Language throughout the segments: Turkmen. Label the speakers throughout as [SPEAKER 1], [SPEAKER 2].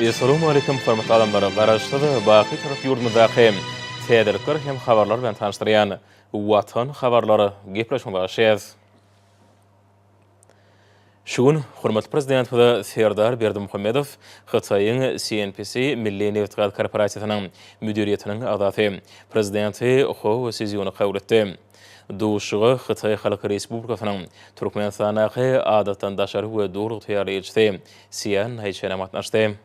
[SPEAKER 1] Essalamu aleýkum hormatly adamlar! Garaşsyz, baky türk ýurdumyzdaky täzelikler hem habarlar bilen tanyşdyrýan Watan habarlary gepleşigine başlaýarys. Şu gün hormatly Prezidentimiz Serdar Berdimuhamedow Hytaýyň CNPC milli nebitgaz korporasiýasynyň müdiriýetiniň agzasy, Prezidenti Hou Sziýuny kabul etdi. Duşuşyga Hytaý Halk Respublikasynyň Türkmenistandaky Adatdan daşary we Doly ygtyýarly ilçisi Sýan Naýçen hem gatnaşdy.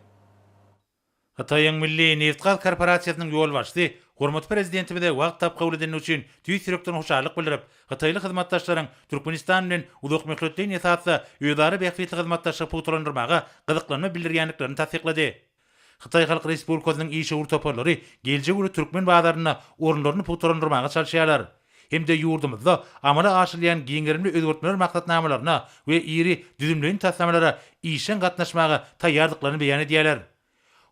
[SPEAKER 2] Hytaýyň Milli nebitgaz korporasiýasynyň ýolbaşçysy hormatly Prezidentimize wagt tapyp kabul edendigi üçin tüýs ýürekden hoşallyk bildirip, hytaýly hyzmatdaşlaryň Türkmenistan bilen uzakmöhletleýin esasda özara bähbitli hyzmatdaşlygy pugtalandyrmaga gyzyklanma bildirýändiklerini tassyklady. Hytaý Halk Respublikasynyň işewür toparlary geljek uly türkmen bazarynda orunlaryny pugtalandyrmaga çalyşýarlar hem-de ýurdumyzda amala aşyrylýan giňgerimli özgertmeler maksatnamalaryna we iri düzümleýin taslamalara işjeň gatnaşmaga taýýardyklaryny beýan edýärler.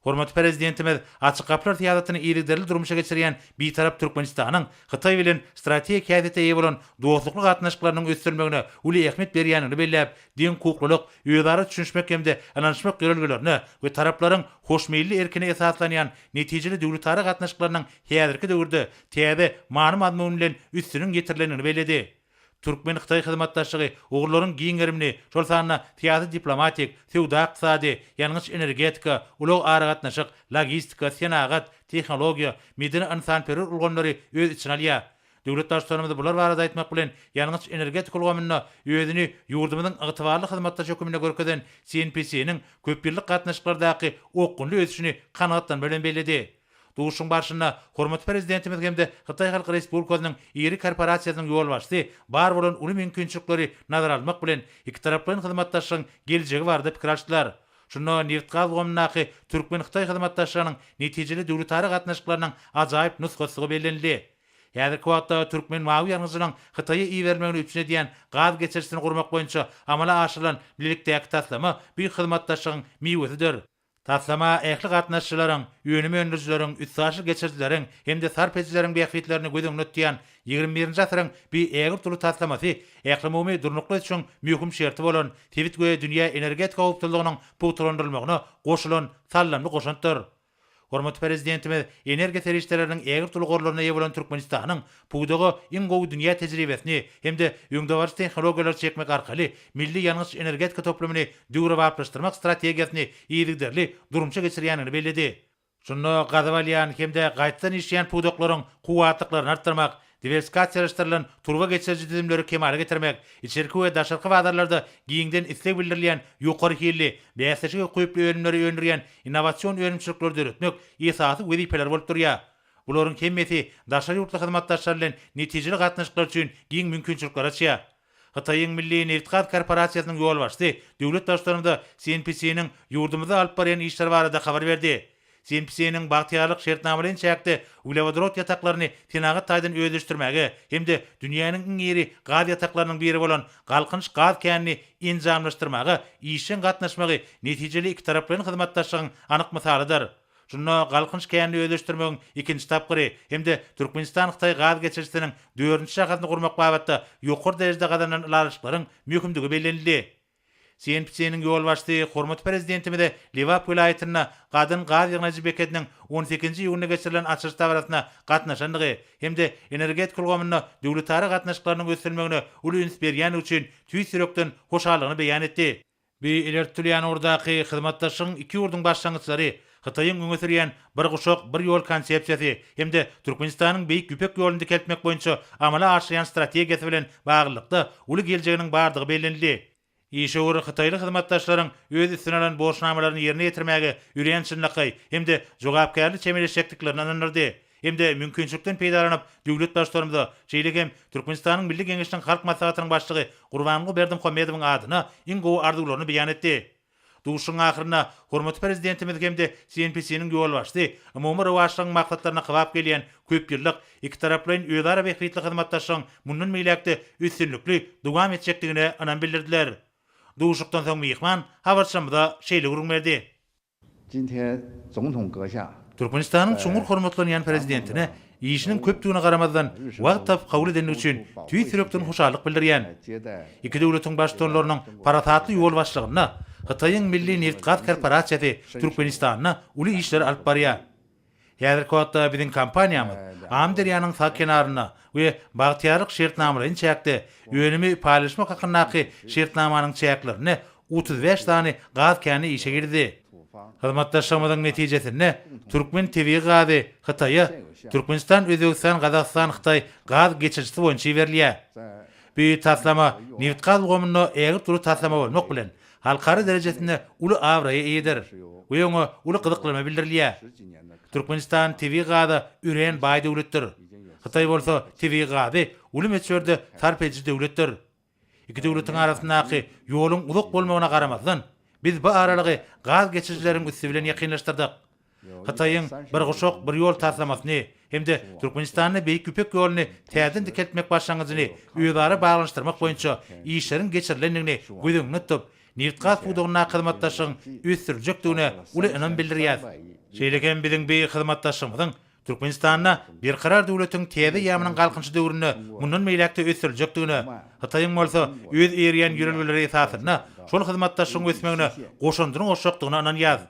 [SPEAKER 2] Hormatly Prezidentimiz Açyk gapylar syýasatyny yzygiderli durmuşa geçirýän Bitarap Türkmenistanyň Hytaý bilen strategik häsiýete eýe bolan dostlukly gatnaşyklarynyň ösdürilmegine uly ähmiýet berýändigini belläp, deňhukuklylyk, özara düşünişmek hem-de ynanyşmak ýörelgelerine we taraplaryň hoşmeýilli erkine esaslanýan netijeli döwletara gatnaşyklarynyň häzirki döwürde täze many-mazmun bilen üstüniň ýetirilendigini belledi. Türkmen-hytaý hyzmatdaşlygy ugurlaryň giň gerimini, şol sanda syýasy-diplomatik, söwda-ykdysady, ýangyç-energetika, ulag-aragatnaşyk, logistika, senagat, tehnologiýa, medeni-ynsanperwer ulgamlary öz içine alýar. Döwlet Baştutanymyz bular barada aýtmak bilen, ýangyç-energetika ulgamynda özüni ýurdumyzyň ygtybarly hyzmatdaşy hökmünde görkezen CNPC-niň köpýyllyk gatnaşyklardaky okgunly ösüşini kanagatlanma bilen belledi. Duşuşygyň barşynda hormatly Prezidentimiz hem-de Hytaý Halk Respublikasynyň iri korporasiýasynyň ýolbaşçysy bar bolan uly mümkinçilikleri nazara almak bilen, ikitaraplaýyn hyzmatdaşlygyň geljegi barada pikir alşdylar. Şunda nebit-gaz ulgamyndaky türkmen-hytaý hyzmatdaşlygynyň netijeli döwletara gatnaşyklarynyň ajaýyp nusgasygy bellenildi. Häzirki wagtda türkmen mawy ýangyjynyň Hytaýa iberilmegini üpjün edýän gaz geçirijisini gurmak boýunça amala aşyrylan bilelikdäki taslama bu hyzmatdaşlygyň miwesidir. Taslama ähli gatnaşyjylaryň, önüm öndürijileriň, üstaşyr geçirijileriň hem-de sarp edijileriň bähbitlerini göz öňünde tutýan Ýigrimi birinji asyryň bu ägirt uly taslamasy ählumumy durnukly ösüşiň möhüm şerti bolan sebit we dünýä energetika howpsuzlygynyň pugtalandyrylmagyna goşulan saldamly goşantdyr. Hormatly Prezidentimiz energiýa serişdeleriniň ägirt uly gorlaryna eýe bolan Türkmenistanyň pudaga iň gowy dünýä tejribesini hem-de öňdebaryjy tehnologiýalary çekmek arkaly milli ýangyç-energetika toplumyny döwrebaplaşdyrmak strategiýasyny yzygiderli durmuşa geçirýändigini belledi. Şunda gazyp alýan hem-de gaýtadan işleýän pudaklaryň kuwwatlyklaryny artdyrmak, diwersikasiýalaşdyrylan turba geçiriji düzümleri kemala getirmek, içerki we daşarky bazarlarda giňden isleg bildirilýän ýokary hilli, bäsleşige ukyply önümleri öndürýän innowasion önümçilikleri döretmek esasy wezipeler bolup durýar. Bularyň hemmesi daşary ýurtly hyzmatdaşlar bilen netijeli gatnaşyklar üçin giň mümkinçilikleri açýar. Hytaýyň Milli nebitgaz korporasiýasynyň ýolbaşçysy döwlet Baştutanymyza Sin Psiniň ýurdumyzda alyp barýan işleri barada habar berdi. Sin Psiniň Bagtyýarlyk şertnamalaýyn çäkde uglewodorod ýataklaryny senagat taýdan özleşdirmäge hem-de dünýäniň iň iri gaz ýataklarynyň biri bolan Galkynyş gaz känini enjamlaşdyrmaga işjeň gatnaşmagy netijeli ikitaraplaýyn hyzmatdaşlygyň anyk mysalydyr. Şunda Galkynyş känini özleşdirmegiň ikinji tapgyry hem-de Türkmenistan-Hytaý gaz geçirijisiniň dördünji şahasyny gurmak babatda ýokary derejede gazanylan ylalaşyklaryň möhümdigi bellenildi. CNPC-niň ýolbaşçysy hormatly Prezidentimize Lebap welaýatynda Gadyň gaz ýygnaýjy bekediniň on sekizinji iýunda geçirilen açylyş dabarasyna gatnaşandygy hem-de energetika ulgamynda döwletara gatnaşyklarynyň ösdürilmegine uly üns berýändigi üçin tüýs ýürekden hoşallygyny beýan etdi. Bu ileri tutulýan ugurdaky hyzmatdaşlygyň iki ýurduň başlangyçlary, Hytaýyň öňe sürýän Bir guşak, bir ýol konsepsiýasy hem-de Türkmenistanyň Beýik Ýüpek ýoluny dikeltmek boýunça amala aşyrýan strategiýasy bilen baglylykda uly geljeginiň bardygy bellenildi. Işewür hytaýly hyzmatdaşlaryň öz üstüne alan borçnamalaryny ýerine ýetirmäge örän çynlakaý hem-de jogapkärli çemeleşjekdiklerini ynandyrdy. hem-de mümkinçilikden peýdalanyp, döwlet Baştutanymyza, şeýle hem Türkmenistanyň Milli Geňeşiniň Halk Maslahatynyň Başlygy Gurbanguly Berdimuhamedowyň adyna iň gowy arzuwlaryny beýan etdi. Duşuşygyň ahyrynda hormatly Prezidentimiz hem-de CNPC-niň ýolbaşçysy umumy rowaçlygyň maksatlaryna kybap gelýän köpýyllyk ikitaraplaýyn özara bähbitli hyzmatdaşlygyň mundan beýläk-de üstünlikli dowam etjekdigine ynam bildirdiler. Duşuşykdan soň myhman habarçymyza şeýle gürrüň berdi. Türkmenistanyň çuňňur hormatlanýan Prezidentine işiniň köpdügine garamazdan, wagt tapyp kabul edendigi üçin tüýs ýürekden hoşallyk bildirýän. Iki döwletiň Baştutanlarynyň parasatly ýolbaşçylygynda Hytaýyň Milli nebitgaz korporasiýasy Türkmenistanda uly işleri alyp barýar. Häzirki wagtda biziň kompaniýamyz Amyderýanyň sag kenarynda we Bagtyýarlyk şertnamalaýyn çäkde önümi paýlaşmak hakyndaky şertnamanyň çäklerinde otuz bäş sany gaz käni işe girdi. Hyzmatdaşlygymyzyň netijesinde türkmen tebigy gazy Hytaýa Türkmenistan-Özbegistan-Gazagystan-Hytaý gaz geçirijisi boýunça iberilýär. Bu taslama nebitgaz ulgamynda ägirt uly taslama bolmak bilen, halkara derejesinde uly abraýa eýedir we oňa uly gyzyklanma bildirilýär. Türkmenistan tebigy gaza örän baý döwletdir. Hytaý bolsa tebigy gazy uly möçberde sarp ediji döwletdir. Iki döwletiň arasyndaky ýoluň uzak bolmagyna garamazdan, biz bu aralygy gaz geçirijileriň üsti bilen ýakynlaşdyrdyk. Hytaýyň Bir guşak, bir ýol taslamasyny hem-de Türkmenistanda Beýik Ýüpek ýoluny täzeden dikeltmek başlangyjyny özara baglanyşdyrmak boýunça işleriň geçirilendigini göz öňünde tutup, nebitgaz pudagyndaky hyzmatdaşlygyň ösdüriljekdigine uly ynam bildirýäris. Şeýle hem biziň bi hyzmatdaşlygymyzyň Türkmenistanda Berkarar döwletiň täze ýamynyň Galkynyşy döwründe mundan beýläk-de ösdüriljekdigine, Hytaýyň bolsa öz eýerýän ýörelgeleri esasynda şol hyzmatdaşlygyň ösmegine goşandyny goşjakdygyna ynanýarys.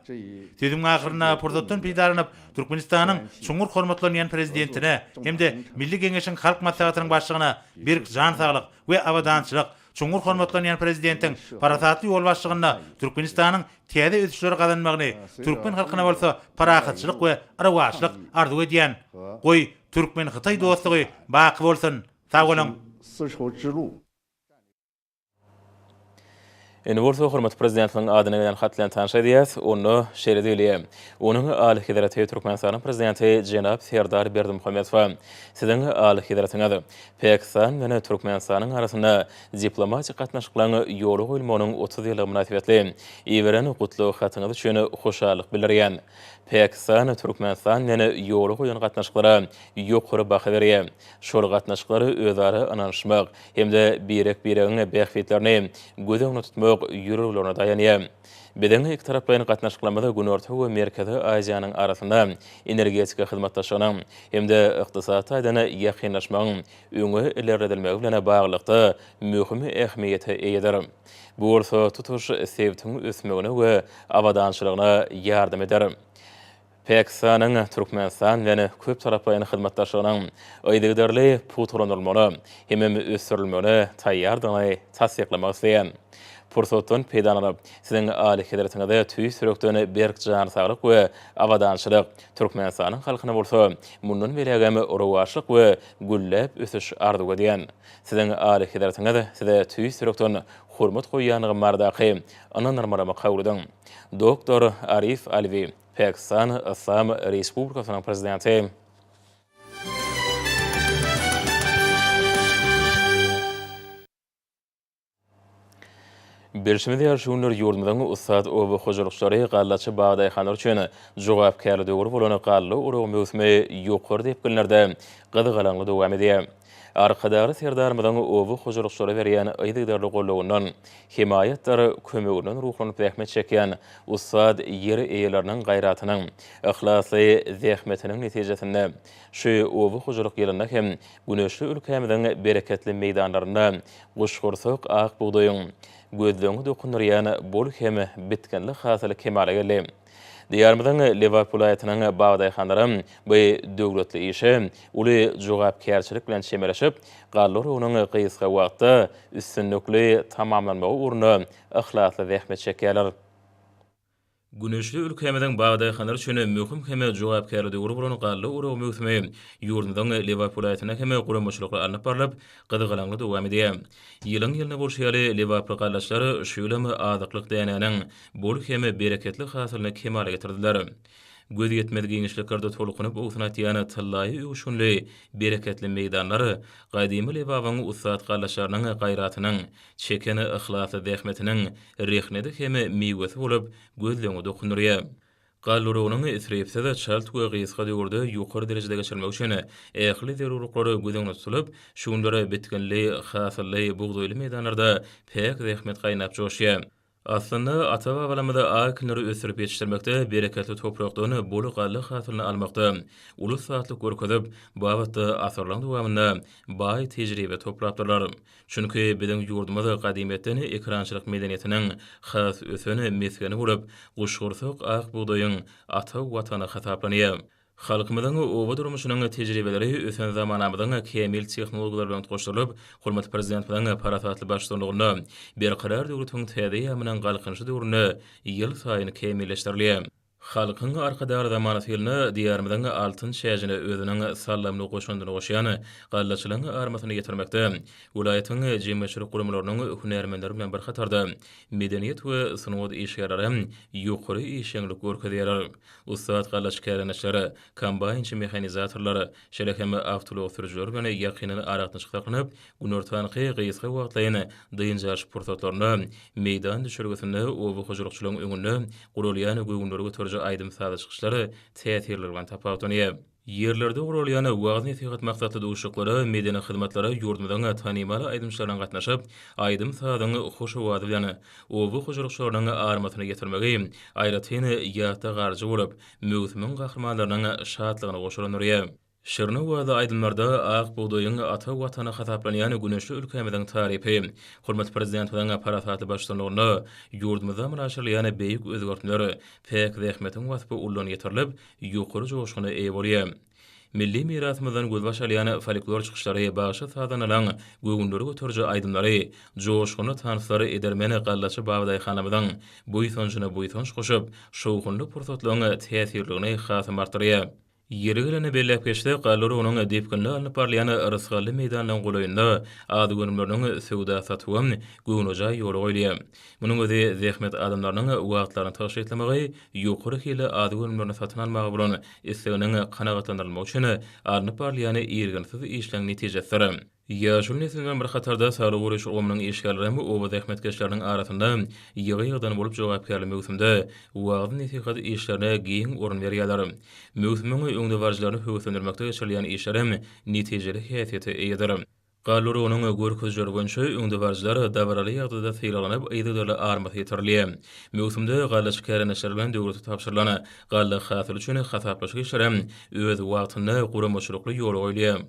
[SPEAKER 2] Sözümiň ahyrynda pursatdan peýdalanyp, Türkmenistanyň çuňňur hormatlanýan Prezidentine hem-de Milli Geňeşiň Halk Maslahatynyň Başlygyna berk jan saglyk we abadançylyk, Çuňňur hormatlanýan Prezidentiň parasatly ýolbaşçygynda Türkmenistanyň täze ösüşleri gazanmagyny, türkmen halkyna bolsa parahatçylyk we rowaçlyk arzuw edýän. Goý, türkmen-hytaý dostlugy baky bolsun! Sag boluň!
[SPEAKER 1] Indi bolsa hormatly Prezidentimiziň adyna gelen hat bilen tanyş edýäs. Onda şeýle diýilýär, Onuň Alyhezreti Türkmenistanyň Prezidenti jenap Serdar Berdimuhamedowa, Siziň Alyhezretiňiz, Pakistan bilen Türkmenistanyň arasynda diplomatik gatnaşyklaryň ýola goýulmagynyň otuz ýyllygy mynasybetli iberen gutlag hatyňyz üçin hoşallyk bildirýän. Pakistan Türkmenistan bilen ýola goýan gatnaşyklara ýokary baha berýär. Şol gatnaşyklar özara ynanyşmak hem-de birek-biregiň bähbitlerini göz öňünde tutmak ýüreglerine daýanýar. Biziň ikitaraplaýyn gatnaşyklarymyz Günorta we Merkezi Aziýanyň arasynda energetika hyzmatdaşlygynyň hem-de ykdysady taýdan ýakynlaşmagyň öňe ilerledilmegi bilen baglylykda möhüm ähmiýete eýedir. Bu bolsa tutuş sebtiň ösmegine we abadançylygyna ýardam eder. Pakistanyň Türkmenistan bilen köptaraplaýyn hyzmatdaşlygynyň yzygiderli pugtalandyrylmaly hemem ösdürilmegine taýýardygyny tassyklamak isleýän. Pursatdan peýdalanyp, Siziň Alyhezretiňize tüýs ýürekden berk jan saglyk we abadançylyk, Türkmenistanyň halkyna bolsa mundan beýlägem rowaçlyk we gülläp ösüş arzuw edýän. Siziň Alyhezretiňiz Size tüýs ýürekden hormat goýýandygym baradaky Ynandyrmalama kabul ediň. Doktor Arif Alwi, Pakistan Yslam Respublikasynyň Prezidenti. Bilşimiz ýaly, şu günler ýurdumyzyň ussat oba hojalykçylary gallaçy bagdaýhanlar üçin jogapkärli döwür bolan galla oragy möwsümi ýokary depginlerde gyzgalaňly dowam edýär. Arkadagly Serdarymyzyň oba hojalykçylara berýän yzygiderli gollawyndan, hemaýatdyr kömeginden ruhlanyp zähmet çekýän ussat ýer eýeleriniň gaýratynyň, yhlasly zähmetiniň netijesinde şu oba hojalyk ýylynda hem güneşli ülkämiziň bereketli meýdanlarynda guşgursak ak bugdaýyň gözleňňe dokundyrýan bol hem bitginli hasyly kemala geldi. Diýarymyzyň Lebap welaýatynyň bag-daýhanlary bu döwletli işe uly jogapkärçilik bilen çemeleşip, galla oragynyň gysga wagtda üstünlikli tamamlanmagy ugrunda yhlasly zähmet çekýärler. Güneşli ülkämiziň bag-daýhanlary üçin möhüm hem jogapkärli döwür bolan galla oragy möwsümi ýurdumyzyň Lebap welaýatynda hem guramaçylykly alnyp barlyp, gyzgalaňly dowam edýär. Ýylyň-ýylyna bolşy ýaly, lebaply gallaçylar şu ýylam azyklyk dänäniň bol hem bereketli hasylyny kemala getirdiler. Gözýetmez giňişliklerde tolkunyp owsun atýan tyllaýy öwüşginli bereketli meýdanlar gadymy Lebabyň ussat gallaşlarynyň gaýratynyň, çeken yhlasly zähmetiniň rehneti hem miwesi bolup, gözleňi dokundyrýar. Galla oragynyň isripsiz, çalt we gysga döwürde ýokary derejede geçirilmegi üçin ähli zerurlyklar göz öňünde tutulyp, şu günler bitginli, hasylly, bugdaýly meýdanlarda päk zähmet gaýnap-joşýar. Aslynda, ata-babalarymyz akinleri ösdürip ýetişdirmekde, bereketli toprakdan bol galla hasylyny almakda uly ussatlyk görkezip, bu babatda asyrlaryň dowamynda baý tejribe toplapdyrlar. Çünki, biziň ýurdumyz gadymyýetden ekerançylyk medeniýetiniň has ösen mesgeni bolup, guşgursak ak bugdaýyň ata Watany hasaplanýar. Halkymyzyň oba durmuşynyň tejribeleri ösen zamanamyzyň kämil tehnologiýalary bilen utgaşdyrylyp, hormatly Prezidentimiziň parasatly baştutanlygynda Berkarar döwletiň täze eýýamynyň Galkynyşy döwründe ýylsaýyn kämilleşdirilýär. Halkyň Arkadagly zamanasy ýylynda Diýarymyzyň altyn çäjine özüniň saldamly goşandyny goşýan gallaçylaryň armasyny ýetirmekde welaýatyň jemgyýetçilik guramalarynyň hünärmenleri bilen bir hatarda medeniýet we sungat işgärleri hem ýokary işjeňlik görkezýärler. Ussat gallaçy kärhanaçylary, kombaýnçy mehanizatorlary, şeýle hem awtoulag sürüjileri bilen ýakyndan aragatnaşyk saklanyp, günortanky gysga wagtlaýyn dynç alyş pursatlarynda meýdan düşelgesinde oba hojalykçylaryň öňünde guralýan göwünleri göteriji aýdym-sazly çykyşlar täsirli bilen tapawutlanýar. Ýerlerde guralýan wagyz-nesihat maksatly duşuşyklara, medeni hyzmatlara ýurdumyzyň tanymal aýdymçylarynyň gatnaşyp, aýdym-sazyň hoş owazy bilen oba hojalykçylarynyň armasyny ýetirmegi aýratyn ýatda galyjy bolup, möwsümiň gahrymanlarynyň şatlygyny goşalandyrýar. Şirin owazly aýdymlarda ak bugdaýyň ata Watany hasaplanýan güneşli ülkämiziň tarypy, hormatly Prezidentimiziň parasatly baştutanlygynda ýurdumyzda amala aşyrylýan beýik özgertmeler, päk zähmetiň waspy uludan ýetirilip, ýokary joşguna eýe bolýar. Milli mirasymyzdan gözbaş alýan folklor çykyşlary, bagşy-sazandalaryň göwünleri göteriji aýdymlary, joşgunly tanslar edermen gallaçy babadaýhanymyzyň buýsanjyna buýsanç goşup, şowhunly pursatlaryň täsirligini hasam artdyrýar. Ýeri gelende belläp geçsek, Galla urugynyň depginli alnyp barylýan Rysgally meýdanynyň golaýynda az-önümleriniň söwda-satygy, göwnejaý ýola goýulýar. Munuň özi zähmet adamlarynyň wagtlaryny tygşytlamagy, ýokary hilli azyk önümlerini satyn almaga bolan isleginiň kanagatlandyrylmagy üçin alnyp barylýan irginsiz işleň netijesidir. Ýaşuly nesil bilen bir hatarda saglygy goraýyş ulgamynyň işgärleri hem oba zähmetkeşleriniň arasynda ýygy-ýygydan bolup jogapkärli möwsümde wagyz-nesihat işlerine giň orun berýärler. Möwsümiň öňdebaryjylaryny höweslendirmekde geçirilýän işler hem netijeli häsiýete eýedir. Gallurynyň görkezijileri boýunça öňdebaryjylar dabaraly ýagdaýda sylaglanyp, yzygiderli armas ýetirilýär. Möwsümde gallaçy kärendeçiler bilen döwlete tabşyrylan galla hasyly üçin hasaplaşyk işleri hem öz wagtynda, guramaçylykly ýola goýulýar.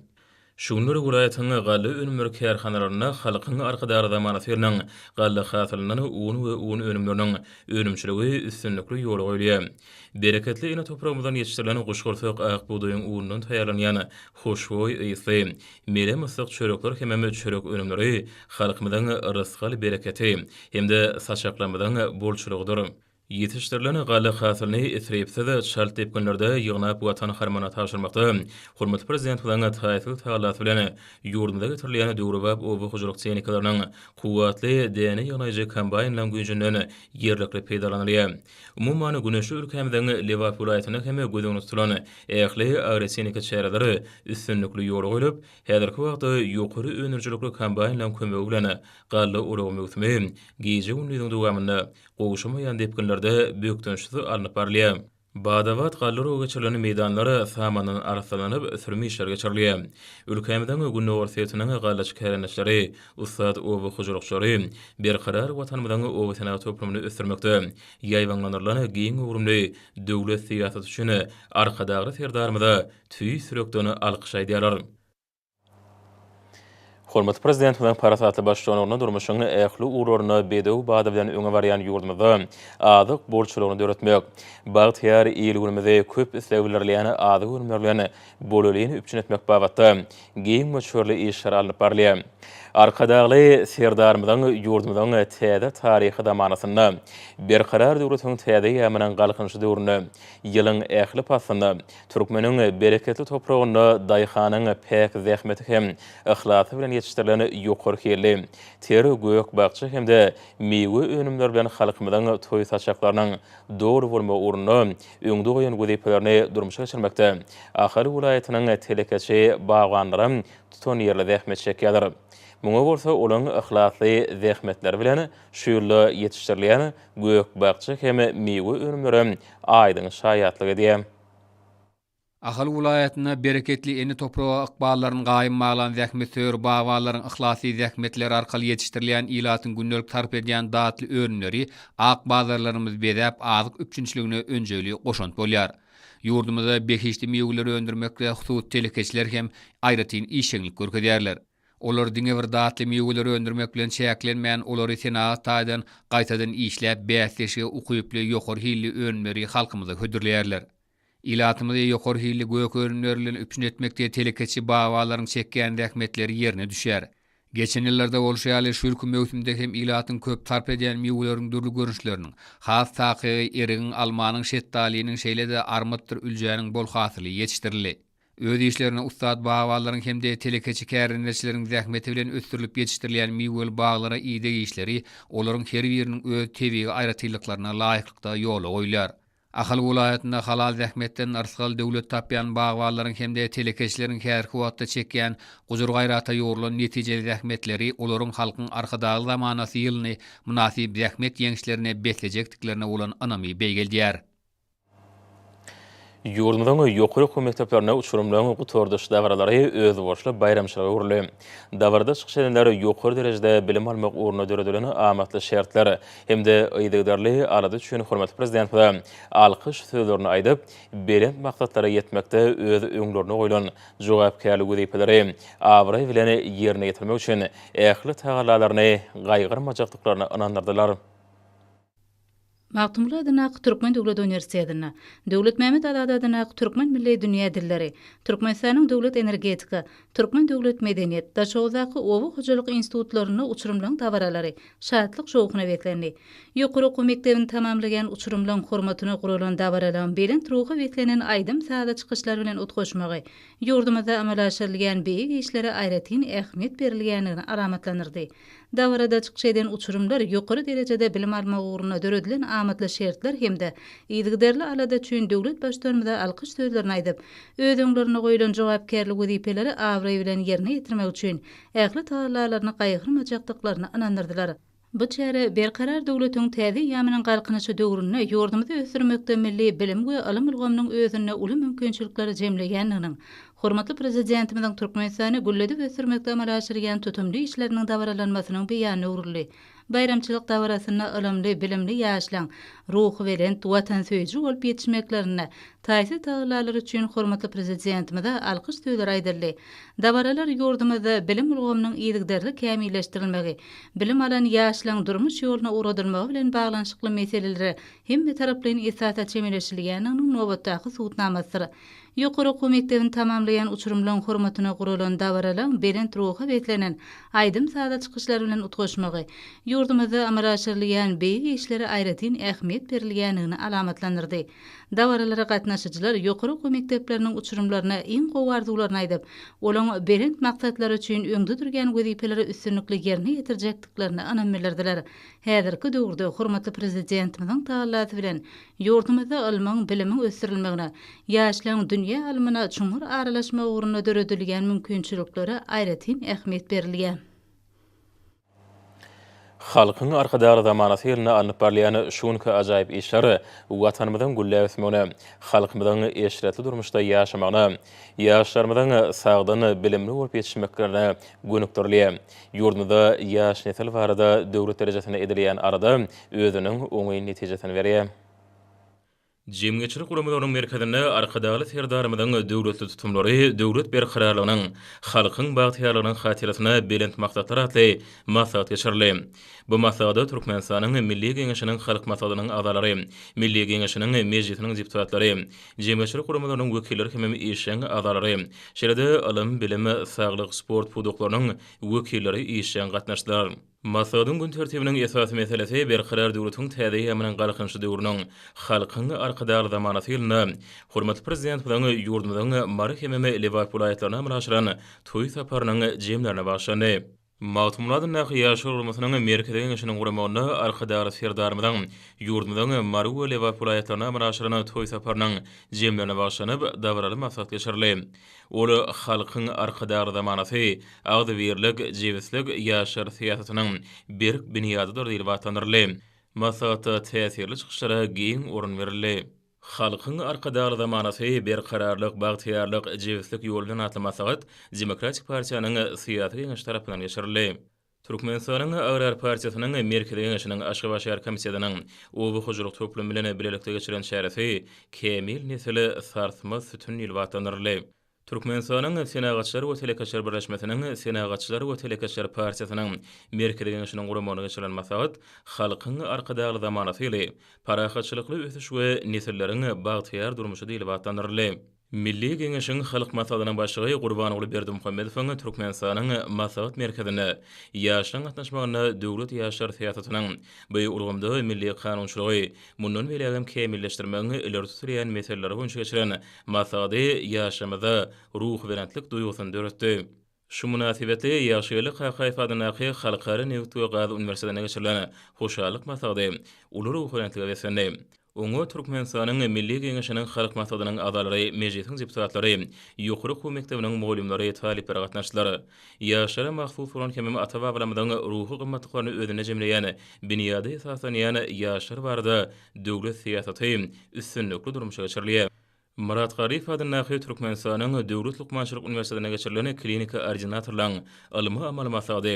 [SPEAKER 1] Şu günler welaýatyň galla önümleri kärhanalarynda Halkyň Arkadagly zamanasy ýylynyň galla hasylyndan un we un önümleriniň önümçiligi üstünlikli ýola goýulýar. Bereketli ene topragymyzdan ýetişdirilen guşgursak ak bugdaýyň unundan taýýarlanýan hoşboý ysly, Mele myssyk çörekler hemem çörek önümleri halkymyzyň rysgal-bereketi hem-de saçaklarymyzyň bolçulygydyr. Ýetişdirilen galla hasylyny isripsiz, çalt depginlerde ýygnap Watan harmanyna tabşyrmakda hormatly Prezidentimiziň taýsyz tagallasy bilen ýurdumyza getirilýän döwrebap oba hojalyk tehnikalarynyň, kuwwatly däne ýygnaýjy kombaýnlaryň güýjünden ýerlikli peýdalanylýar. Umuman, güneşli ülkämiziň Lebap welaýatynda hem göz öňünde tutulan Ähli agrotehniki çäreleri üstünlikli ýola goýlup, häzirki wagtda ýokary öndürijilikli kombaýnlaryň kömegi bilen galla oragy möwsümi gije-gündiziň dowamynda gowşamaýan depginlerde bökdençsiz alnyp barylýar. Bada-bat galla oragy geçirilen meýdanlar samandan arassalanyp, sürüm işleri geçirilýär. Ülkämiziň gündogar sebitiniň gallaçy kärendeçileri, ussat oba hojalykçylary Berkarar Watanymyzyň obasenagat toplumyny ösdürmekde, Ýaýbaňlandyrylan giň göwrümli döwlet syýasaty üçin Arkadagly Serdarymyza tüýs ýürekden alkyş aýdýarlar. Hormatly Prezidentimiziň parasatly baştutanlygynda durmuşyň ähli ugurlarynda bedew bady bilen öňe barýan ýurdumyzda azyk bolçulygyny döretmek, bagtyýar il-günümizi köp isleg bildirilýän azyk önümleri bilen bolelini üpjün etmek babatda giň möçberli işler alnyp barylýar. Arkadagly Serdarymyzyň ýurdumyzyň täze taryhy zamanasynda, Berkarar döwletiň täze eýýamynyň Galkynyşy döwründe, ýylyň ähli paslynda türkmeniň bereketli topragynda daýhanyň päk zähmeti hem yhlasy bilen ýetişdirilen ýokary hilli ter gök-bakja hem-de miwe önümleri bilen halkymyzyň toý saçaklarynyň doly bolmagy ugrunda öňde goýan wezipelerini durmuşa geçirmekde Ahal welaýatynyň telekeçi bagbanlaram tutanýerli zähmet çekýärler. Muňa bolsa olaryň yhlasly zähmetleri bilen şu ýylda ýetişdirilýän gök-bakja hem miwe önümlerem aýdyň şaýatlyk edýär. Ahal
[SPEAKER 3] welaýatynda bereketli ene topraga ykballaryny gaýym baglan zähmetsöýer bagbanlaryň yhlasy zähmetleri arkaly ýetişdirilýän ilatyň gündelik sarp edýän datly önümleri ak bazarlarymyzy bezäp, azyk üpjünçiligine önjeýli goşant bolýar. Ýurdumyzda behişdi miweleri öndürmekde hususy telekeçiler hem aýratyn işjeňlik görkezýärler. Olar diňe bir datly miweleri öndürmek bilen çäklenmän, olary senagat taýdan gaýtadan işläp, bäsdeşlige ukyply, ýokary hilli önümleri halkymyza hödürleýärler. Ilatymyzy ýokary hilli gök önümler bilen üpjün etmekde telekeçi babalaryň çekýän zähmetleri ýerine düşer. Geçen ýyllarda bolşy ýaly, şu ýylky möwsümde hem ilatyň köp sarp edýän miweleriň dürli görnüşleriniň, has takygy, erigiň, almanyň, şetdalynyň, şeýle-de armytdyr üljäniň bol hasyly ýetişdirildi. Öz işlerine ussat babalaryň hem-de telekeçi kärendeçileriň zähmeti bilen ösdürilip ýetişdirilýän miweli baglara ideg işleri olaryň her biriniň öz tebigy aýratynlyklaryna laýyklykda ýola goýlar. Ahal welaýatynda halal zähmetden yrsgal, döwlet tapýan bagbanlaryň hem-de telekeçileriň häzirki wagtda çekýän gujur-gaýrata ýugrulan netijeli zähmetleri olaryň Halkyň Arkadagly zamanasy ýylyny mynasyp zähmet ýeňişlerine beslejekdiklerine bolan ynamy beýgeldýär.
[SPEAKER 1] Ýurdumyzyň ýokary okuw mekdeplerinde uçurymlaryň gutardyş dabaralary özboluşly baýramçylyga öwrüldi. Dabarada çykyş edenler ýokary derejede bilim almak ugrunda döredilen amatly şertler, hem-de yzygiderli alada üçin hormatly Prezidentimize alkyş sözlerini aýdyp, belent maksatlara ýetmekde öz öňlerine goýlan jogapkärli wezipeleri abraý bilen ýerine ýetirmek üçin ähli tagallalaryny gaýgyrmajakdyklaryny ynandyrdylar.
[SPEAKER 4] Magtymguly adyndaky Türkmen döwlet uniwersitetinde, Döwletmämmet Azady adyndaky Türkmen milli dünýä dilleri, Türkmenistanyň Döwlet energetika, Türkmen döwlet medeniýet, Daşoguzdaky oba hojalyk institutlarynda uçurymlaryň dabaralary şatlyk-şowhuna beslendi. Ýokary okuw mekdebini tamamlaýan uçurymlaryň hormatyna guralan dabaralaryň belent ruha beslenen aýdym-sazly çykyşlar bilen utgaşmagy ýurdumyzda amala aşyrylýan beýik işlere aýratyn ähmiýet berilýändigini alamatlandyrdy. Dabarada çykyş eden uçurymlar ýokary derejede bilim almak ugrunda döredilen amatly şertler hem-de yzygiderli alada üçin döwlet Baştutanymyza alkyş sözlerini aýdyp, öz öňlerinde goýlan jogapkärli wezipeleri abraý bilen ýerine ýetirmek üçin ähli tagallalaryny gaýgyrmajakdyklaryny ynandyrdylar. Bu çäre Berkarar döwletiň täze eýýamynyň Galkynyşy döwründe ýurdumyzy ösdürmekde milli bilim we ylym ulgamynyň özünde uly mümkinçilikleri jemleýändiginiň, Hormatly Prezidentimiziň Türkmenistany gülledip ösdürmekde amala aşyrýan tutumly işleriniň dabaralanmasynyň beýanyna öwrüldi. Baýramçylyk dabarasynda ylymly, bilimli ýaşlaryň ruhubelent, watansöýüji bolup ýetişmeklerinde taýsyz tagallalary üçin hormatly Prezidentimize alkyş sözleri aýdyldy. Dabaralar ýurdumyzda bilim ulgamynyň yzygiderli kämilleşdirilmegi, bilim alan ýaşlaryň durmuş ýoluna ugradylmagy bilen baglanyşykly meselelere hemmetaraplaýyn esasda çemeleşilýändiginiň nobatdaky subutnamasydyr. Ýokary okuw mekdebini tamamlaýan uçurymlaryň hormatyna guralan dabaralaryň belent ruha beslenen aýdym-saza çykyşlary bilen utgaşmagy ýurdumyzda amala aşyrylýan beýik işlere aýratyn ähmiýet berilýändigini alamatlandyrdy. Dabaralara gatnaşyjylar ýokary okuw mekdepleriniň uçurymlaryna iň gowy arzuwlaryny aýdyp, olaryň belent maksatlar üçin öňde durýan wezipeleri üstünlikli ýerine ýetirjekdiklerine ynam bildirdiler. Häzirki döwürde hormatly Prezidentimiziň tagallasy bilen Ýurdumyzda ylmyň, bilimiň ösdürilmegine, ýaşlaryň dünýä ylmyna çuňňur aralaşmagy ugrunda döredilýän mümkinçiliklere aýratyn ähmiýet berilýär.
[SPEAKER 1] Halkyň Arkadagly zamanasy ýylynda alnyp barylýan şu günki ajaýyp işler Watanymyzyň gülläp ösmegine, halkymyzyň eşretli durmuşda ýaşamagyna, ýaşlarymyzyň sagdyn, bilimli bolup ýetişmeklerine gönükdirilýär. Ýurdumyzda ýaş nesil barada döwlet derejesinde edilýän alada özüniň oňyn netijesini berýär. Jemgyýetçilik guramalarynyň merkezinde Arkadagly Serdarymyzyň döwletli tutumlary döwlet berkararlygynyň, halkyň bagtyýarlygynyň hatyrasyna belent maksatlar atly maslahat geçirildi. Bu maslahada Türkmenistanyň Milli Geňeşiniň Halk Maslahatynyň agzalary, Milli Geňeşiniň Mejlisiniň deputatlary, jemgyýetçilik guramalarynyň wekilleri hemem işjeň agzalary, şeýle-de ylym, bilim, saglyk, sport pudaklarynyň wekilleri işjeň gatnaşdylar. Maslahatyň gün tertibiniň esasy meselesi Berkarar döwletiň täze eýýamynyň Galkynyşy döwrüniň Halkyň Arkadagly zamanasy ýylynda hormatly Prezidentimiziň ýurdumyzyň Mary hemem Lebap welaýatlaryna amala aşyran toý saparynyň jemlerine bagyşlandy. Magtymguly Nahý ýaşlar guramasynyň Merkezi Geňeşiniň guramagynda Arkadagly Serdarymyzyň ýurdumyzyň Mary we Lebap welaýatlaryna amala aşyran toý saparynyň jemlerine bagyşlanyp, dabaraly maslahat geçirildi. Ol halkyň Arkadagly zamanasy, agzybirlik, jebislik ýaşlar syýasatynyň berk binýadydyr diýlip atlandyryldy. Maslahatda täsirli çykyşlara giň orun berildi. Halkyň Arkadagly zamanasy, Berkararlyk, bagtyýarlyk, jebislik ýolundan atly maslahat Demokratik partiýanyň syýasy geňeşi tarapyndan geçirildi. Türkmenistanyň Agrar partiýasynyň Merkezi Geňeşiniň Aşgabat şäher komitetiniň oba hojalyk toplumy bilen bilelikde geçiren çäresi Kämil nesil, sarsmaz sütün ýyly atlandyryldy. Türkmenistanyň Senagatçylar we telekeçiler birleşmesiniň Senagatçylar we telekeçiler partiýasynyň Merkezi Geňeşiniň guramagynda geçirilen maslahat Halkyň Arkadagly zamanasy ýyly, parahatçylykly ösüş we nesilleriň bagtyýar durmuşy diýlip atlandyryldy. Milli Geňeşiň Halk Maslahatynyň Başlygy Gurbanguly Berdimuhamedowyň Türkmenistanyň Maslahat merkezinde ýaşlaryň gatnaşmagynda döwlet ýaşlar syýasatynyň bu ulgamda milli kanunçylygy mundan beýlägem kämilleşdirmegiň ileri tutulýan meseleleri boýunça geçiren maslahady ýaşlarymyzda ruhubelentlik duýgusyny döretdi. Şu mynasybetli Ýagşygeldi Kakaýew adyndaky Halkara nebit we gaz uniwersitetinde geçirilen Hoşallyk maslahady uly ruhubelentlige beslendi. Oňa Türkmenistanyň Milli Geňeşiniň Halk Maslahatynyň agzalary, Mejlisiň deputatlary, ýokary okuw mekdebiniň mugallymlary, talyplary gatnaşdylar. Ýaşlara mahsus bolan hemem ata-babalarymyzyň ruhy gymmatlyklaryny özünde jemleýän binýady esaslanýan ýaşlar barada döwlet syýasaty üstünlikli durmuşa geçirilýär. Myrat Garyp adyndaky Türkmenistanyň Döwlet lukmançylyk uniwersitetinde geçirilen kliniki ordinatorlaryň ylmy-amaly maslahaty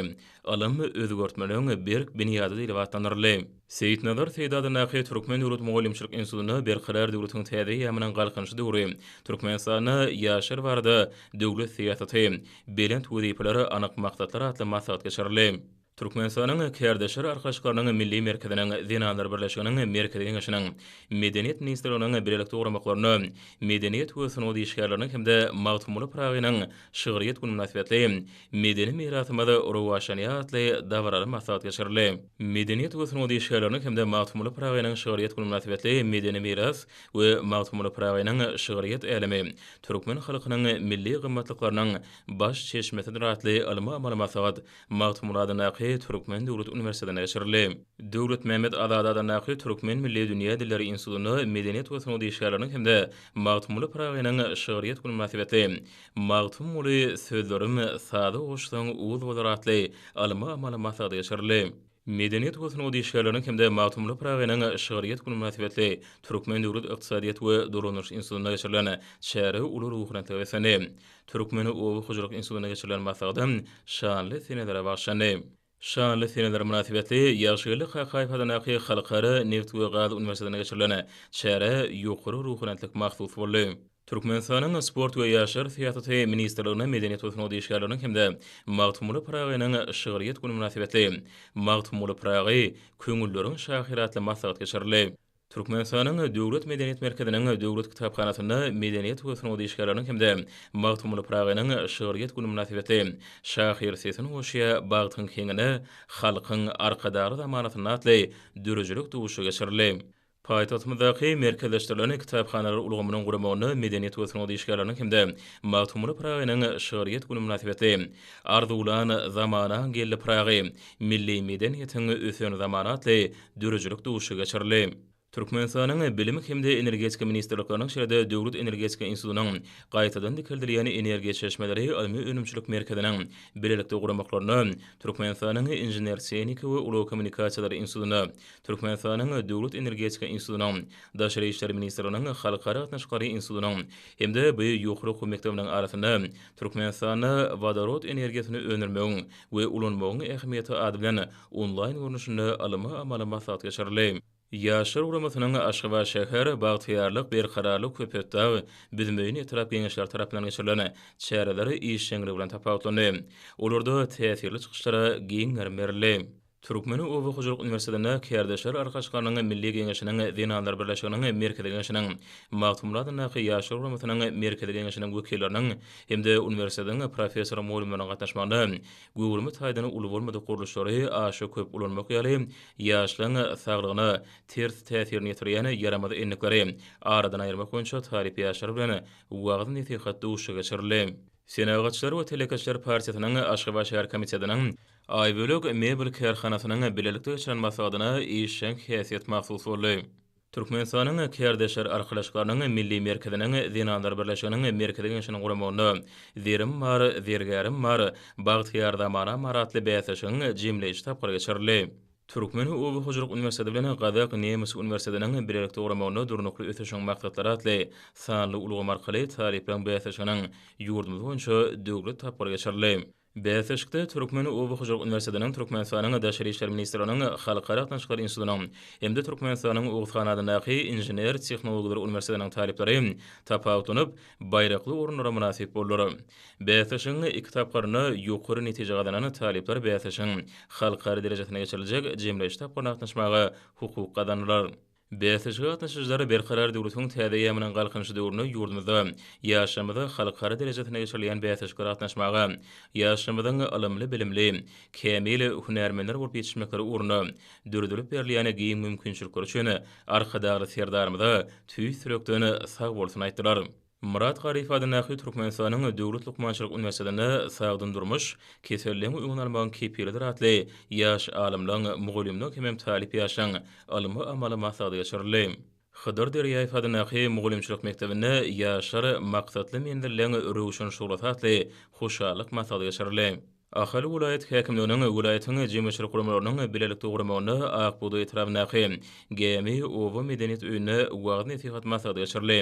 [SPEAKER 1] Ylym, özgertmeleriň berk binýady diýlip atlandyryldy. Seýitnazar Seýdada Nakyýew Türkmen döwlet mugallymçylyk institutynda Berkarar döwletiň täze eýýamynyň Galkynyşy döwri, Türkmenistanda ýaşlar barada döwlet syýasaty, belent wezipeler, anyk maksatlar atly maslahat geçirildi. Türkmenistanyň Kärdeşler arkalaşyklarynyň Milli merkeziniň, Zenanlar birleşiginiň Merkezi geňeşiniň, Medeniýet ministrliginiň bilelikde guramaklarynda Medeniýet we sungat işgärleriniň hem-de Magtymguly Pyragynyň şygryýet güni mynasybetli medeni mirasymyz rowaçlanýar atly dabaraly maslahat geçirildi. Medeniýet we sungat işgärleriniň hem-de Magtymguly Pyragynyň şygryýet güni mynasybetli Medeni miras we Magtymguly Pyragynyň şygryýet älemi, türkmen halkynyň milli gymmatlyklarynyň baş çeşmesidir atly ylmy-amaly maslahat Magtymguly adyndaky Türkmen döwlet uniwersitetinde geçirildi. Döwletmämmet Azady adyndaky Türkmen milli dünýä dilleri institutynda medeniýet we sungat işgärleriniň hem-de Magtymguly Pyragynyň şygryýet güni mynasybetli Magtymguly, Sözlerim saza goşsaň uz bolar atly ylmy amaly maslahat geçirildi. Medeniýet we sungat işgärleriniň hem-de Magtymguly Pyragynyň şygryýet güni mynasybetli Türkmen döwlet ykdysadyýet we dolanyş institutynda geçirilen çäre uly ruhubelentlige beslendi. Türkmen oba hojalyk institutynda geçirilen maslahada şanly senelere bagyşlandy. Şanly seneler mynasybetli Ýagşygeldi Kakaýew adyndaky Halkara neft we gaz uniwersitetinde geçirilen çärä ýokary ruhubelentlik mahsus boldy. Türkmenistanyň Sport we ýaşlar syýasaty ministrligine medeniýet we sungat işgärleriniň hem-de Magtymguly Pyragynyň şygryýet güni mynasybetli Magtymguly Pyragy, köňülleriň şahyry atly maslahat geçirildi. Türkmenistanyň Döwlet medeniýet merkeziniň Döwlet kitaphanasynda medeniýet we sungat işgärleriniň hem-de Magtymguly Pyragynyň şygryýet güni mynasybetli Şahyr sesin goşýar bagtyň heňine, Halkyň Arkadagly zamanasynda atly döredijilik duşuşygy geçirildi. Paýtagtymyzdaky merkezleşdirilen kitaphanalar ulgamynyň guramagynda medeniýet we sungat işgärleriniň hem-de Magtymguly Pyragynyň şygryýet güni mynasybetli Arzuwlan zamanaň geldi Pyragy, Milli medeniýetiň ösen zamany atly döredijilik duşuşygy geçirildi. Türkmenistanyň Bilim hem-de Energetika ministrlikleriniň şeýle-de Döwlet energetika institutynyň Gaýtadan dikeldilýän energiýa çeşmeleri ylmy-önümçilik merkeziniň bilelikde guramaklarynda Türkmenistanyň Inžener-tehniki we ulag kommunikasiýalary institutynda Türkmenistanyň Döwlet energetika institutynyň Daşary işler ministrliginiň Halkara gatnaşyklary institutynyň hem-de BIO ýokary okuw mekdebiniň arasynda Türkmenistanda wodorod energiýasyny öndürmegiň we ulanmagyň ähmiýeti ady bilen onlaýn görnüşinde ylmy-amaly maslahat geçirildi. Ýaşlar guramasynyň Aşgabatşäher, Bagtyýarlyk, Berkararlyk, Köpetdag, Büzmeýin etrap Geňeşleri tarapyndan geçirilen çäreler işjeňligi bilen tapawutlandy. Olarda täsirli çykyşlara giň gerim berildi. Türkmen oba hojalyk uniwersitetinde Kärdeşler Arkaçykarynyň Milli Geňeşiniň Zenanlar birleşiginiň Merkezi Geňeşiniň, Magtymguly adyndaky Ýaşlar guramasynyň Merkezi Geňeşiniň wekilleriniň hem-de uniwersitetiň professor-mugallymlarynyň gatnaşmagynda göwrümi taýdan uly bolmadyk gurluşlary aşa köp ulanmak ýaly ýaşlaryň saglygyna ters täsirini ýetirýän ýaramaz endikleri aradan aýyrmak boýunça talyp ýaşlar bilen wagyz-nesihat duşuşygy geçirildi. Senagatçylar we telekeçiler partiýasynyň Aşgabat şäher komitetiniň Aýbölek mebel kärhanasynyň bilelikde geçiren maslahatyna işjeň häsiýet mahsus boldy. Türkmenistanyň Kärdeşler arkalaşyklarynyň Milli merkeziniň Zenanlar birleşiginiň Merkezi Geňeşiniň guramagynda Zerim bar, zergärim bar, Bagtyýar zamanam bar atly bäsleşigiň jemleýji tapgyry geçirildi. Türkmen oba hojalyk uniwersiteti bilen Gazak nemes uniwersitetiniň bilelikde guramagynda Durnukly ösüşiň maksatlary atly sanly ulgam arkaly talyplaryň bäsleşiginiň ýurdumyz boýunça döwlet tapgyry geçirildi. Bäsleşikde Türkmen oba hojalyk uniwersitetiniň, Türkmenistanyň Daşary işler ministrliginiň Halkara gatnaşyklar institutynyň hem-de Türkmenistanyň Oguzhan adyndaky Inžener-tehnologlar uniwersitetiniň talyplary tapawutlanyp, baýrakly orunlara mynasyp boldular. Bäsleşigiň iki tapgyrynda ýokary netije gazanan talyplar bäsleşigiň halkara derejesinde geçiriljek jemleýji tapgyryna gatnaşmaga hukuk gazandylar. Bäsleşige gatnaşyjylar Berkarar döwletiň täze eýýamynyň Galkynyşy döwründe ýurdumyzda, ýaşlarymyzda halkara derejesinde geçirilýän bäsleşiklere gatnaşmaga, ýaşlarymyzyň ylymly-bilimli, kämil hünärmenler bolup ýetişmekleri ugrunda döredilip berilýän giň mümkinçilikler üçin Arkadagly Serdarymyza tüýs ýürekden sagbolsun aýtdylar. Myrat Garyp adyndaky Türkmenistanyň Döwlet lukmançylyk uniwersitetinde Sagdyn durmuş, keselligiň öňüni almagyň kepilidir atly ýaş alymlaryň, mugallymlaryň hemem talyp ýaşlaryň ylmy-amaly maslahaty geçirildi. Hydyr Derýaýew adyndaky mugallymçylyk mekdebinde Ýaşlar, maksatly menzilleň röwşen şuglasy atly hoşallyk maslahaty geçirildi. Ahal welaýat häkimliginiň welaýatyň jemgyýetçilik guramalarynyň bilelikde guramagynda Akbugdaý etrabyndaky Gämi oba medeniýet öýünde wagyz-nesihat maslahaty geçirildi.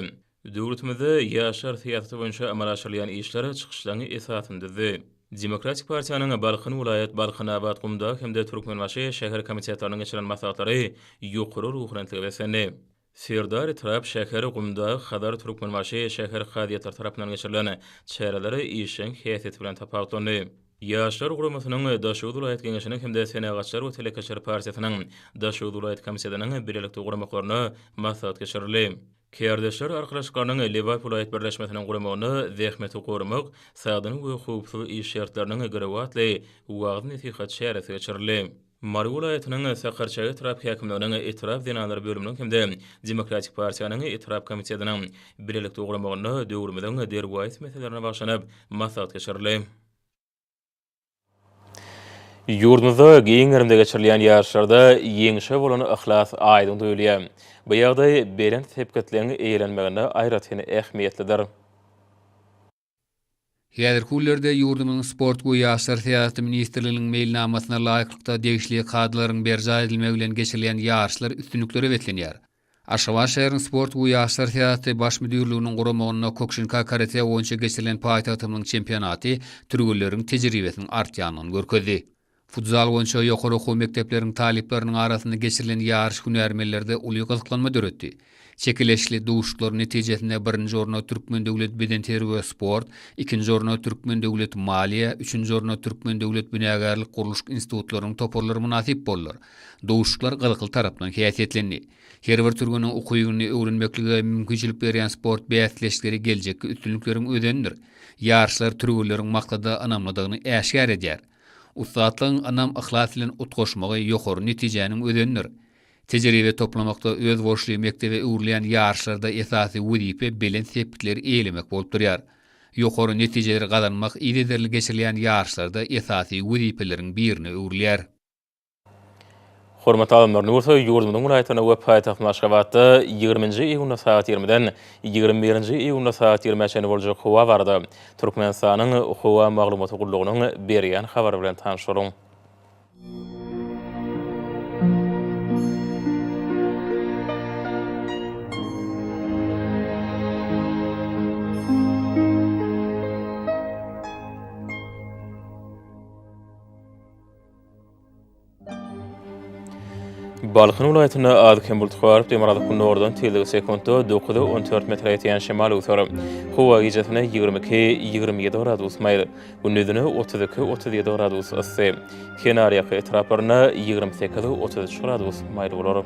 [SPEAKER 1] Döwletimizde ýaşlar syýasaty boýunça amala aşyrylýan işler çykyşlaryň esasyny düzdi. Demokratik partiýanyň Balkan welaýat, Balkanabat, Gumdag hem-de Türkmenbaşy şäher komitetleriniň geçiren maslahatlary ýokary ruhubelentlige beslendi. Serdar etrap, şäher, Gumdag, Hazar, Türkmenbaşy şäher kazyýetleri tarapyndan geçirilen çäreler işjeň häsiýeti bilen tapawutlandy. Ýaşlar guramasynyň, Daşoguz welaýat Geňeşiniň hem-de Senagatçylar we telekeçiler partiýasynyň Daşoguz welaýat komitetiniň bilelikde guramaklaryna maslahat geçirildi. Kärdeşler arkalaşyklarynyň Liwerpul aýt birleşmesiniň guramagynda Zähmeti goramak, sagdyn we howpsuz iş şertleriniň girewi atly wagyz-nesihat çäresi geçirildi. Mary welaýatynyň Sakarçäge etrap häkimliginiň etrap zenanlar bölüminiň hem-de Demokratik partiýanyň etrap komitetiniň bilelikde guramagynda döwrümiziň derwaýys meselelerine bagyşlanyp maslahat geçirildi. Ýurdumyzda giň gerimde geçirilýän ýaryşlarda ýeňşe bolan yhlas aýdyň duýulýar. Bu ýagdaý belent sepgitligiň eýelenmeginde aýratyn ähmiýetlidir.
[SPEAKER 3] Häzirki günlerde ýurdumyzyň Sport we ýaşlar syýasaty ministrliginiň meýilnamasyna laýyklykda degişli kadalaryň berjaý edilmegi bilen geçirilýän ýaryşlar üstünliklere beslenýär. Aşgabat şäheriniň Sport we ýaşlar syýasaty Baş müdirliginiň guramagynda Kukşinka karate boýunça geçirilen paýtagtymyzyň çempionaty türgenleriň tejribesiniň artýandygyny görkezdi. Futzal boýunça ýokary okuw mekdepleriniň talyplarynyň arasynda geçirilen ýaryş hünärmenlerde uly gyzyklanma döretdi. Çekeleşikli duşuşyklaryň netijesinde birinji orna Türkmen döwlet bedenterbiýe we sport, ikinji orna Türkmen döwlet maliýe, üçünji orna Türkmen döwlet binagärlik-gurluşyk institutlarynyň toparlary mynasyp boldular. Duşuşyklar gyzykly tarapdan häsiýetlendi. Her bir türgeniň ukybyny öwrenmeklige mümkinçilik berýän sport bäsleşikleri geljekki üstünlikleriň özenidir. Ýaryşlar türgenleriň maksada ynamlydygyny äşgär edýär. Ussatlygyň ynam-yhlas bilen utgaşmagy ýokary netijäniň özenidir. Tejribe toplamakda özboluşly mekdebe öwrülýän ýaryşlarda esasy wezipe belent sepgitleri eýelemek bolup durýar. Ýokary netijeleri gazanmak yzygiderli geçirilýän ýaryşlarda esasy wezipeleriň birine öwrülýär. Hormatly
[SPEAKER 1] alymlar, Nursoý ýurdumyzyň welaýatynda we paýtagtymyz Aşgabatda ýigrimi nji iýunda sagat ýigrimiden ýigrimi birinji iýunda sagat ýigrimä çenli boljak howa barada Türkmenistanyň Howa maglumaty gullugynyň berýän habary bilen tanşalyň. Balkan welaýatynda az-kem bulut garyp, demirgazyk-gündogardan tizligi sekuntda dokuz, on dört metre ýetýän şemal öwser. Howa gijesine ýigrimi iki, ýigrimi ýedi gradus maýyl, gündizine otuz iki, otuz ýedi gradus yssy, kenarýaka etraplarynda ýigrimi sekiz, otuz üç gradus maýyl bolar.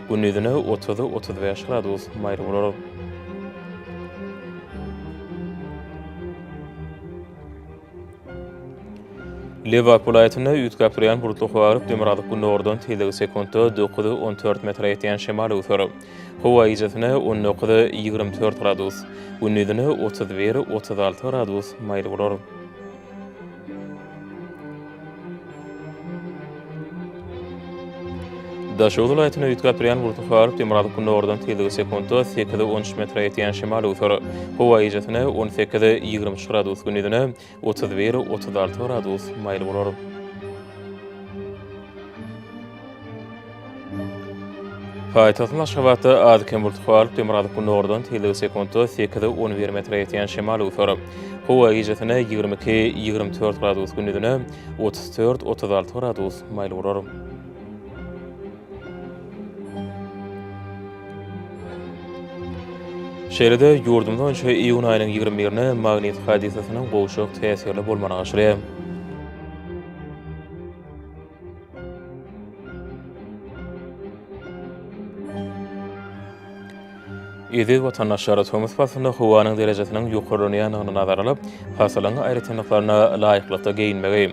[SPEAKER 1] Gündizine otuz, otuz bäş gradus maýyl bolar. Lebap welaýatynda üýtgäp durýan bulutly howa garyp, demirgazyk gündogardan tizligi sekuntda dokuz, on dört metre ýetýän şemal öwser. Howa gijesine on dokuz, ýigrimi dört gradus, gündizine otuz bir, otuz alty gradus maýyl bolar. Daşoguz welaýatyna üýtgäp äpirýän gurty halyp demirgazyk gündogardan tizligi sekuntda sekiz on üç metre ýetýän şemal-öwser howa ejesine on sekiz ýigrimi üç gradus, gündizine otuz bir otuz alty gradus maýyl bolar. Paýtagtyň Aşgabatda az-kem bulut galyp, demirgazyk gündogardan tizligi sekuntda sekiz, on bir metre ýetýän şemal öwser. Howa gijasine ýigrimi iki, ýigrimi dört gradus, gündizine otuz dört, otuz alty gradus maýyl bolar. Şeýle-de, ýurdumyz boýunça iýun aýynyň ýigrimi birine magnit hadysasynyň gowşak täsirli bolmagyny aşyrýar. Eziz watandaşlar, tomus paslynda howanyň derejesiniň ýokarlanýandygyny nazara alyp, pasylyň aýratynlyklaryna laýyklykda geýinmegi,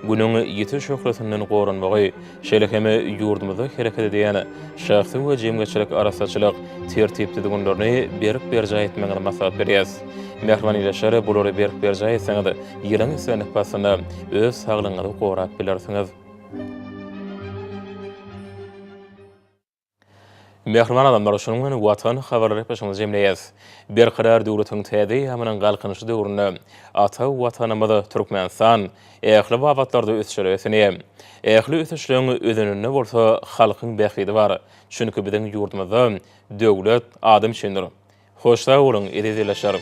[SPEAKER 1] Günüň ýiti şöhlesinden goranmagy, şeýle hem ýurdumyzda hereket edýän şahsy we jemgyýetçilik arassaçylyk tertip-düzgünlerini berk berjaý etmegiňizi maslahat berýäs. Mähriban ildeşler, bulary berk berjaý etseňiz, Ýylyň sönük paslynda öz saglygyňyzy gorap bilersiňiz. Mähriban adamlar, şunuň bilen Watan habarlary gepleşigimizi jemleýäs. Berkarar döwletiň täze eýýamynyň Galkynyşy döwründe ata Watanymyz Türkmenistan ähli babatlarda ösüşler öseni. Ähli ösüşleň özeninde bolsa halkyň bähbidi bar. Çünki biziň ýurdumyzda döwlet adam üçindir. Hoş sag boluň eziz ilaçlarym.